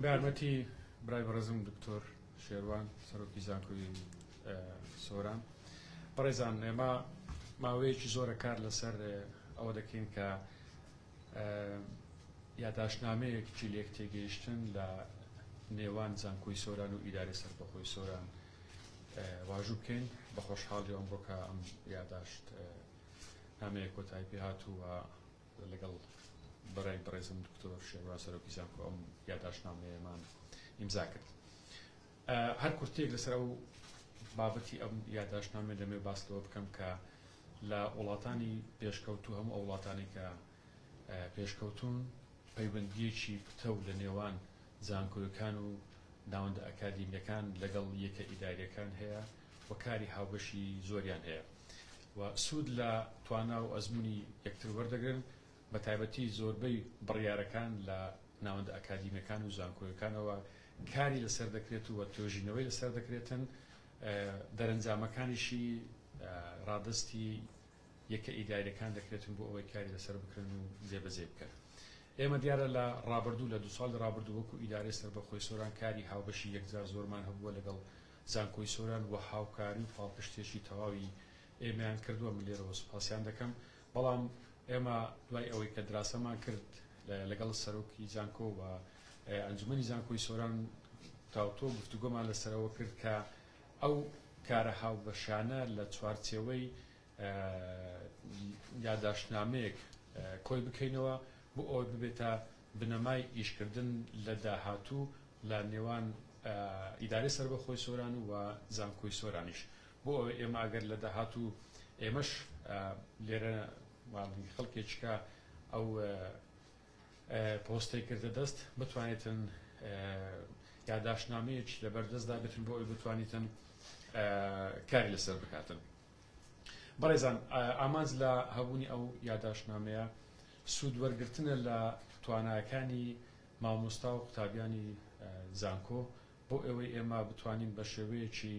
بە یارمەتی برای بەڕێزم دکتۆر شێروان سەرۆکی زانکۆی سۆران بەڕێزان ئێمە ماوەیەکی زۆرە کار لەسەر ئەوە دەکەین کە یاداشنامەیەک جلێک تێگەیشتن لە نێوان زانکۆی سۆران و ئیداری سەربەخۆی سۆران واژوو بکەین بە خۆشحاڵی ئەمڕۆکە ئەم یاداشت نامەیە کۆتای پێ هاتووە لەگەڵ برای بەڕێزم دکتۆر شێنوا سەرۆکی زانکۆ ئەم یاداشتنامەیەمان ئیمزا کرد هەر کورتێک لەسەر ئەو بابەتی ئەم یاداشتنامێ دەمێ باس لەوە بکەم کە لە وڵاتانی پێشکەوتوو هەموو ئەو وڵاتانی کە پێشکەوتون پەیوەندیەکی پتە و لە نێوان زانکۆیەکان و ناوەندە ئەکادیمیەکان لەگەڵ یەکە ئیداریەکان هەیە و کاری هاوبەشی زۆریان هەیە و سوود لە توانا و ئەزموونی یەکتر وەردەگرن، بەتایبەتی زۆربەی بڕیارەکان لە ناوەندە ئەکادیمییەکان و زانکۆیەکانەوە کاری لەسەر دەکرێت و توێژینەوەی لەسەر دەکرێتن، دەرەنجامەکانیشی ڕادەستی یەکە ئیدارییەکان دەکرێتن بۆ ئەوەی کاری لەسەر بکرێن و جێبەجێی بکەن. ئێمە دیارە لە ڕابردوو لە دوو ساڵی ڕابردوو وەکو ئیدارەی سەربەخۆی سۆران کاری هاوبەشی یەکجار زۆرمان هەبووە لەگەڵ زانکۆی سۆران بۆ هاوکاری و پاڵپشتییەکی تەواوی ئێمەیان کردووە، من لێرەوە سوپاسیان دەکەم، بەڵام ئێمە دوای ئەوەی کە دراسەمان کرد لەگەڵ سەرۆکی زانکۆ و ئەنجومەنی زانکۆی سۆران تاوتۆ گفتوگۆمان لەسەرەوە کرد کە ئەو کارە هاوبەشانە لە چوارچێوەی یاداشتنامەیەک کۆی بکەینەوە بۆ ئەوەی ببێتە بنەمای ئیشکردن لە داهاتوو لە نێوان ئیدارەی سەربەخۆی سۆران و زانکۆی سۆرانیش بۆ ئەوەی ئێمە ئەگەر لە داهاتوو ئێمەش لێرە خەڵکێکیکە ئەو پۆستەی کردە دەست بتوانێتن یاداشتنامەیەکی لەبەردەستدا بێتن بۆ ئەوی بتوانیتن کاری لەسەر بکاتن. بەڕێزان ئامانج لە هەبوونی ئەو یاداشتنامەیە سوود وەرگرتنە لە تواناکانی مامۆستا و قوتابیانی زانکۆ بۆ ئەوەی ئێمە بتوانین بە شێوەیەکی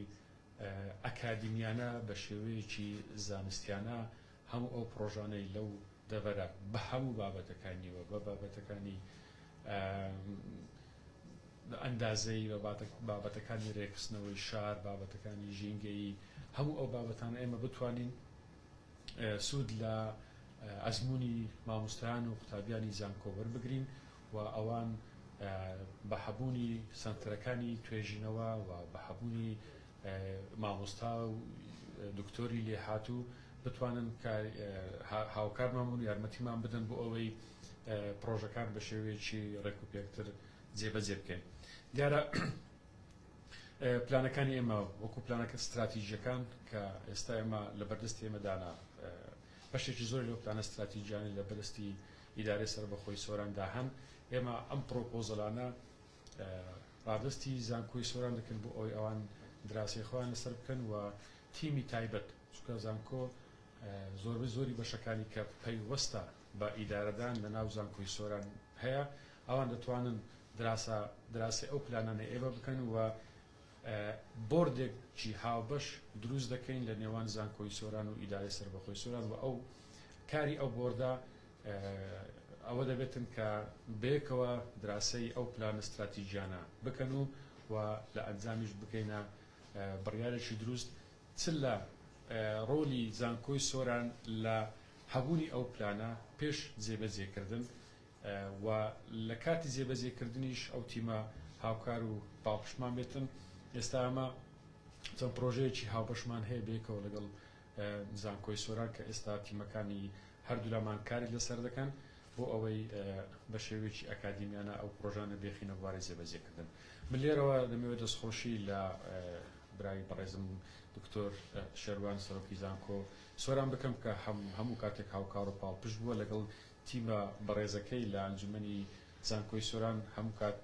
ئەکادیمیانە بە شێوەیەکی زانستیانە هەموو ئەو پڕۆژانەی لەو دەڤەرە بە هەموو بابەتەکانیەوە بە بابەتەکانی بە ئەندازەیی بە بابەتەکانی رێکخستنەوەی شار، بابەتەکانی ژینگەیی، هەموو ئەو بابەتانە ئێمە بتوانین سوود لە ئەزموونی مامۆستایان و قوتابیانی زانکۆ وەربگرین و ئەوان بە هەبوونی سەنتەرەکانی توێژینەوە و بە هەبوونی مامۆستا و دکتۆری لێهاتوو بتوانن هاوکارمان بن و یارمەتیمان بدەن بۆ ئەوەی پڕۆژەکان بە شێوەیەکی رێکوپێکتر جێبەجێ بکەین دیارە پلانەکانی ئێمە وەکو پلانەکە ستراتیژیەکان کە ئێستا ئێمە لە بەردەستی ئێمەدانا بەشێکی زۆر لەو پلانە ستراتیژیانە لە بەرستی ئیدارە سەر بەخۆی سۆراندا هەن ئێمە ئەم پرۆپۆزلانە ڕادستی زانکۆی سۆران دەکەن بۆ ئەوی ئەوان دراسی خۆیان لەسەر بکەن و تیمی تایبەت چکە زانکۆ زۆربەی زۆری بەشەکانی کە پەیوەستە بە ئیدارەدان لە ناو زانکۆی سۆران هەیە ئەوان دەتوانن دراسە دراسەی ئەو پلانانەی ئێوە بکەن و بۆردێک چی هاوبەش دروست دەکەین لە نێوان زانکۆی سۆران و ئیدارەی سەربەخۆی سۆران و ئەو کاری ئەو بۆردە ئەوە دەبێتن کە بەیەکەوە دراسەی ئەو پلانە ستراتیژیانە بکەن و و لە ئەنجامیش بکەینە بڕیارێکی دروست چ لە ڕۆلی زانکۆی سۆران لە هەبوونی ئەو پلانە پێش جێبەجێکردن و لە کاتی جێبەجێکردنیش ئەو تیمە هاوکار و پاڵپشتمان بێتن، ئێستا ئێمە چەند پڕۆژەیەکی هاوبەشمان هەیە بەیەکەوە لەگەڵ زانکۆی سۆران کە ئێستا تیمەکانی هەردوولامان کاری لەسەر دەکەن بۆ ئەوەی بە شێوەیەکی ئەکادیمیانە ئەو پڕۆژانە بێخینە بواری جێبەجێکردن من لێرەوە دەمەوێت دەستخۆشی لە برای بەڕێزم دکتۆر شێروان سەرۆکی زانکۆ سۆران بکەم کە هەموو کاتێک هاوکار و پاڵپشت بووە لەگەڵ تیمە بەڕێزەکەی لە ئەنجومەنی زانکۆی سۆران هەموو کات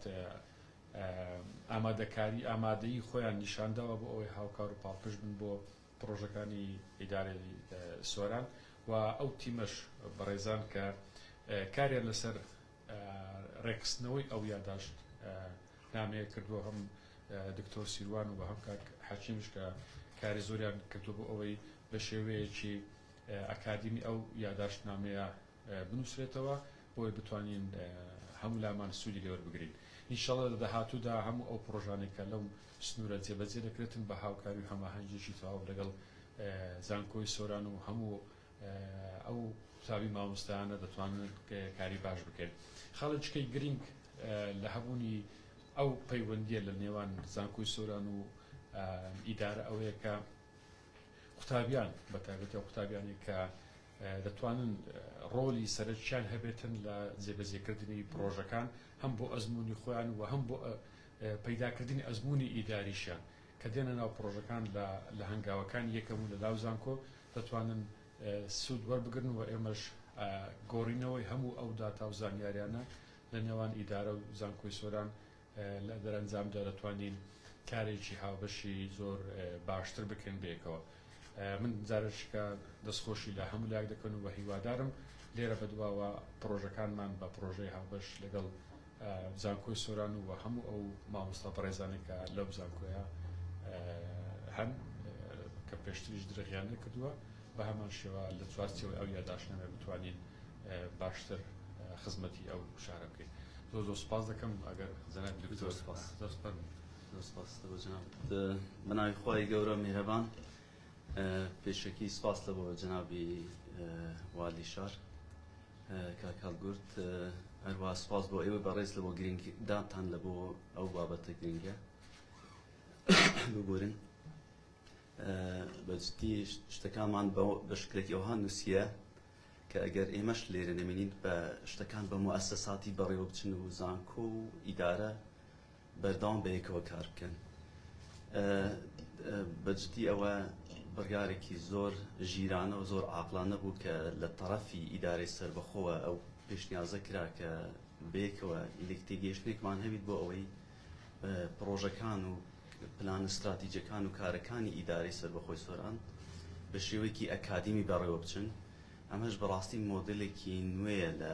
ئامادەکاری ئامادەیی خۆیان نیشان داوە بۆ ئەوەی هاوکار و پاڵپشت بن بۆ پڕۆژەکانی ئیدارەی سۆران و ئەو تیمەش بەڕێزان کە کاریان لەسەر ڕێکخستنەوەی ئەو یاداشت نامەیە کردووە هەم دکتۆر سیروان و بە هەم کاک حەکیمش کە کاری زۆریان کردووە بۆ ئەوەی بە شێوەیەکی ئەکادیمی ئەو یاداشت نامەیە بنووسرێتەوە بۆی بتوانین هەموو لامان سوودی لێ وەربگرین ئینشەڵا لە داهاتوودا هەموو ئەو پڕۆژانەی کە لەم سنوورە جێبەجێ دەکرێتن بە هاوکاری و هەماهەنگیەکی تەواو لەگەڵ زانکۆی سۆران و هەموو ئەو قوتابی مامۆستایانە دەتوانن کاری باش بکەن خاڵی چکەی گرینگ لە هەبوونی ئەو پەیوەندیە لە نێوان زانکۆی سۆران و ئیدارە ئەوەیە کە قوتابیان بە تایبەتی ئەو قوتابیانی کە دەتوانن ڕۆلی سەرچیان هەبێتن لە جێبەجێکردنی پرۆژەکان هەم بۆ ئەزمموی خۆیان و هەم بۆ پەیداکردنی ئەزمموی ئیداریشیان کە دێنە ناو پڕۆژەکان لە لە هەنگاوەکانی یەکەم و لە لاو زانکۆ دەتوانن سوود وەربگرن و ئێمەش گۆڕینەوەی هەموو ئەو داتا و زانیاریانە لە نێوان ئیدارە و زانکۆی سۆران لە دەرەنجامدا دەتوانین کارێکی هاوبەشی زۆر باشتر بکەین بەیەکەوە من جارشکە دەستخۆشی لە هەموو لاک دەکەن و بە هیوادارم لێرە بەدواوە پرۆژەکانمان بە پرۆژەی هاوبەش لەگەڵ زانکۆی سۆران و هەموو ئەو مامۆستا بەڕێزانەی کە لەم زانکۆیە هەن کە پێشتریش درغیان نەکردووە بە هەمان شێوە لە چوارچێوەی ئەو یاداشنامە بتوانین باشتر خزمەتی ئەو شارە بکەین زۆر زۆر سپاس دەکەم ئەگەر جەنابی دکتۆر سپاس زۆر فەرموو زۆر سپاس لە جەنابت بە ناوی خوای گەورە میهرەبان پێشەکی سپاس لە بۆ جەنابی والی شار کاک هەڵگورد هەروەها سوپاس بۆ ئێوەی بەڕێز لەبۆ گرنگ دانتان لە بۆ ئەو بابەتە گرنگە ببورن بەجدی شتەکانمان بە شکلێکی ئەوها نووسە کە ئەگەر ئێمەش لێرە نەمێنین بە شتەکان بە موەسەساتی بەڕێوە بچن و زانکۆ و ئیدارە بەردەوام بەیەکەوە کار بکەن بەجدی ئەوە بڕیارێکی زۆر ژیرانە و زۆر عاقلانە بوو کە لە تەرەفی ئیدارەی سربەخۆوە ئەو پێشنیازە کرا کە بەیەکەوە لێکتێگەیشتێکمان هەبیت بۆ ئەوەی پڕۆژەکان و پلان استراتیجەکان و کارەکانی ئیدارەی سربەخۆی سۆران بە شێوەیەکی ئەکادیمی بەڕێوە بچن ئەمەش بەڕاستی مۆدلێکی نوێیە لە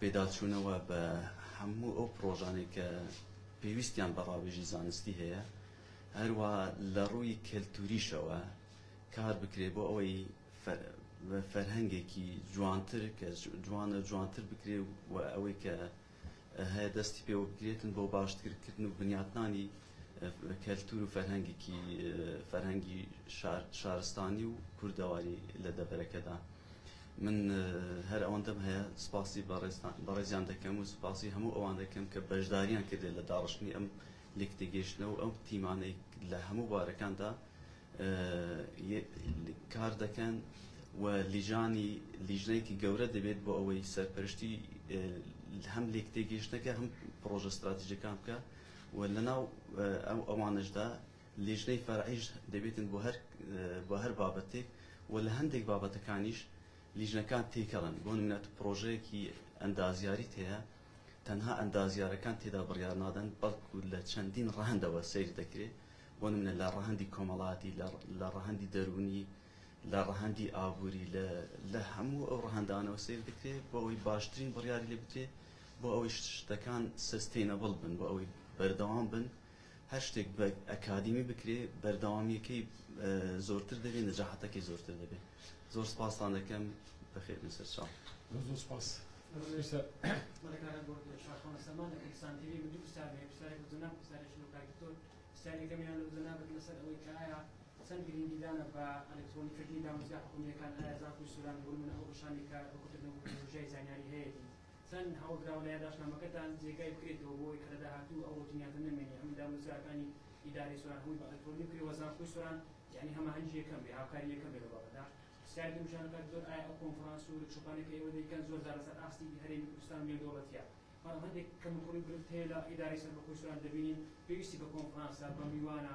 پێداچوونەوە بە هەموو ئەو پڕۆژانەی کە پێویستیان بە ڕاوێژی زانستی هەیە، هەروەها لە ڕووی کەلتووریشەوە کار بکرێت بۆ ئەوەی فەرهەنگێکی جوانتر کە جوانە جوانتر بکرێت و ئەوەی کە هەیە دەستی پێوە بگرێتن بۆ باشترکردن و بنیاتنانی کەلتور و فەرهەنگێکی فەرهەنگی شارستانی و کوردەواری لە دەڤەرەکەدا من هەر ئەوەندەم هەیە سپاسی بەڕێزیان دەکەم و سپاسی هەموو ئەوان دەکەم کە بەشداریان کردێت لە داڕشتنی ئەم لێک تێگەیشتنە و ئەو تیمانەی لە هەموو بارەکاندا کار دەکەن و لیژانی لیژنەیەکی گەورە دەبێت بۆ ئەوەی سەرپەرشتی هەم لێک تێگەیشتنەکە هەم پرۆژە استراتیژەکان بکە و لەناو ئەو ئەوانەشدا لیژنەی فەرعیش دەبێتن بۆ هەر بۆ هەر بابەتێک و لە هەندێک بابەتەکانیش لیژنەکان تێکەڵن بۆ نمونە پڕۆژەیەکی ئەندازیاریت هەیە تەنها ئەندازیارەکان تێدا بڕیار نادەن بەڵکو لە چەندین ڕەهەندەوە سەیر دەکرێت بۆ نمونە لە ڕەهەندی کۆمەڵاتی لە ڕەهەندی دەروونی لە ڕەهەندی ئابووری لە لە هەموو ئەو ڕەهەندانەوە سەیر دەکرێت بۆ ئەوەی باشترین بڕیاری لێ بدرێت بۆ ئەوەی شتەکان سەستەینەبڵ بن، بۆ ئەوەی بەردەوام بن، هەر شتێک بە ئەکادیمی بکرێ بەردەوامییەکەی زۆرتر دەبێ، نەجاحەتەکەی زۆرتر دەبێ. زۆر سپاستان دەکەم. بەخێر بن سەرچاو. زۆر زۆر سپاس. چەند هەوڵ دراوە لە یاداشتنامەکەتان جێگای بکرێتەوە بۆ ئەوەی کە لە داهاتوو ئەو ڕۆتینیاتە نەمێنێ هەموو دامەزراوەکانی ئیدارەی سۆران هەمووی بە ئەلکترۆنی بکرێ وە زانکۆی سۆران یانی هەماهەنگی یەکەم بێ هاوکاری یەکەم بێ لەو بابەتە پرسیار دروست جان و کاک زۆر ئایا ئەو کۆنفرانس و ورکشۆپانەی کە ئێوە دەیکەن زۆر جار لەسەر ئاستی هەرێمی کوردستان و نێودەوڵەتیە بەڵام هەندێک کەموکوڕی و گرفت هەیە لە ئیدارەی سەربەخۆی سۆران دەبینین پێویستی بە کۆنفرانسە بە میوانە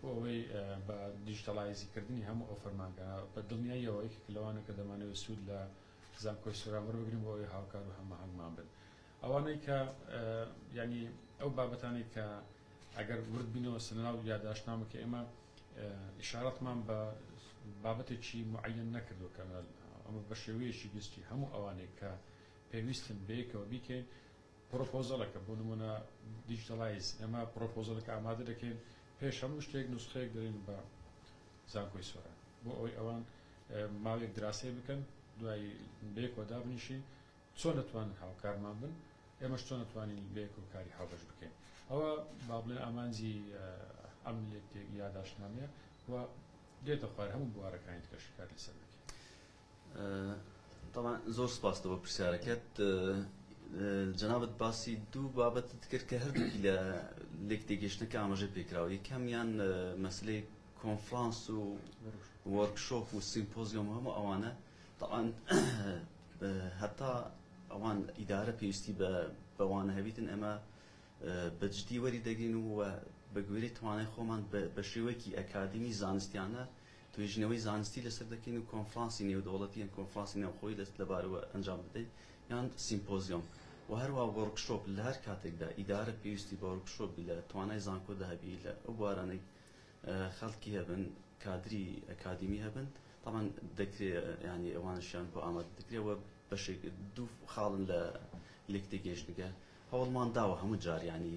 بۆ ئەوەی بە دیجیتاڵایزی کردنی هەموو ئەو فەرمانگانە بە دڵنیاییەوە یەکێکە لەوانە کە دەمانەوێت سوود لە زانکۆی سۆران وەربگرین بۆ ئەوەی هاوکار و هەماهەنگمان بن ئەوانەی کە یانی ئەو بابەتانەی کە ئەگەر ورد بینەوە سەرناو یاداشتنامە کە ئێمە ئیشارەتمان بە بابەتێکی معەن نەکردو کە ئەمە بە شێوەیەکی گشتی هەموو ئەوانێک کە پێویستن بەیەکەوە بیکەین پرۆپۆزەلەکە، بۆ نموونە دیجیتەڵایز، ئێمە پرۆپۆزەلەکە ئامادە دەکەین، پێش هەموو شتێک نوسخەیەک دەدەین بە زانکۆی سۆران، بۆ ئەوەی ئەوان ماوەیەک دراسەی بکەن، دوایی بەیەکەوە دابنیشین، چۆن دەتوانن هاوکارمان بن، ئێمەش چۆن دەتوانین بەیەکەوە کاری هاوبەش بکەین. ئەوە با بڵێین ئامانجی ئەم یاداشتنامەیە و دێتە خوار هەموو بوارەکانی دیکەش کار لەسەر دەکەین. تەبعەن زۆر سپاس بۆ پرسیارەکەت جەنابت باسی دوو بابەتت کرد کە هەردووکی لە لێک تێگەشتنەکە ئاماژە پێکراوە یەکەمیان مەسلەی کۆنفرانس و وەرکشۆپ و سیمپۆزیۆم هەموو ئەوانە تەعاان هەتا ئەوان ئیدارە پێویستی بە بەوانە هەبیتن ئەمە بەجددی وەری دەگرین و بە گوێری توانای خۆمان بە شێوەیەکی ئەکادمی زانستیانە توێژینەوەی زانستی لەسەر دەکەین و کۆنفرانسی نێودەوڵەتی یان کۆنفرانسی ناوخۆیی لە لەبارەوە ئەنجام دەدەین یان سیمپۆزیۆم و هەروا وۆرکشۆپ لە هەر کاتێکدا ئیدارە پێویستی بە وۆرکشۆپ بی لە توانای زانکۆدا هەبی لە ئەو بوارانەی خەڵکی هەبن کادری ئەکادیمی هەبن تەبعەن دەکرێ یانی ئەوانشیان بۆ ئامادە دەکرێ وە بەشێک دوو خاڵن لە لێکتێگەیشتنگە هەوڵمان داوە هەموو جار یانی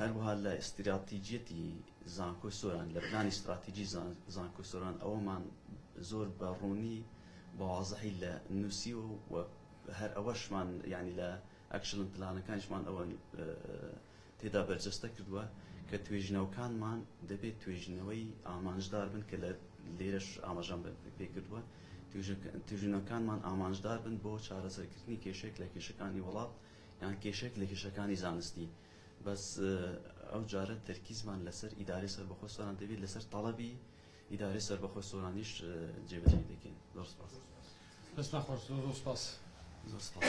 هەروەها لە ئیستراتیجیەتی زانکۆی سۆران، لە پلانی ئیستراتیجی زانکۆی سۆران ئەوەمان زۆر بە ڕوونی بە وازحی لە نووسیوە و هەر ئەوەشمان یانی لە ئەکشڵن پلانەکانیشمان ئەوە تێدا بەرجەستە کردووە کە توێژینەوەکانمان دەبێت توێژینەوەی ئامانجدار بن کە لە لێرەش ئاماژان پێ کردووە توێژینەوەکانمان ئامانجدار بن بۆ چارەسەرکردنی کێشێک لە کێشەکانی وڵات یان کێشەیەک لە کێشەکانی زانستی بەس ئەو جارە تەرکیزمان لەسەر ئیدارەی سەربەخۆ سۆران دەبێت لەسەر تەڵەبی ئیدارەی سەربەخۆ سۆرانیش جێبەجێی دەکەین زۆر سپاس دەستان خۆش زۆر زۆر سپاس زۆر سپاس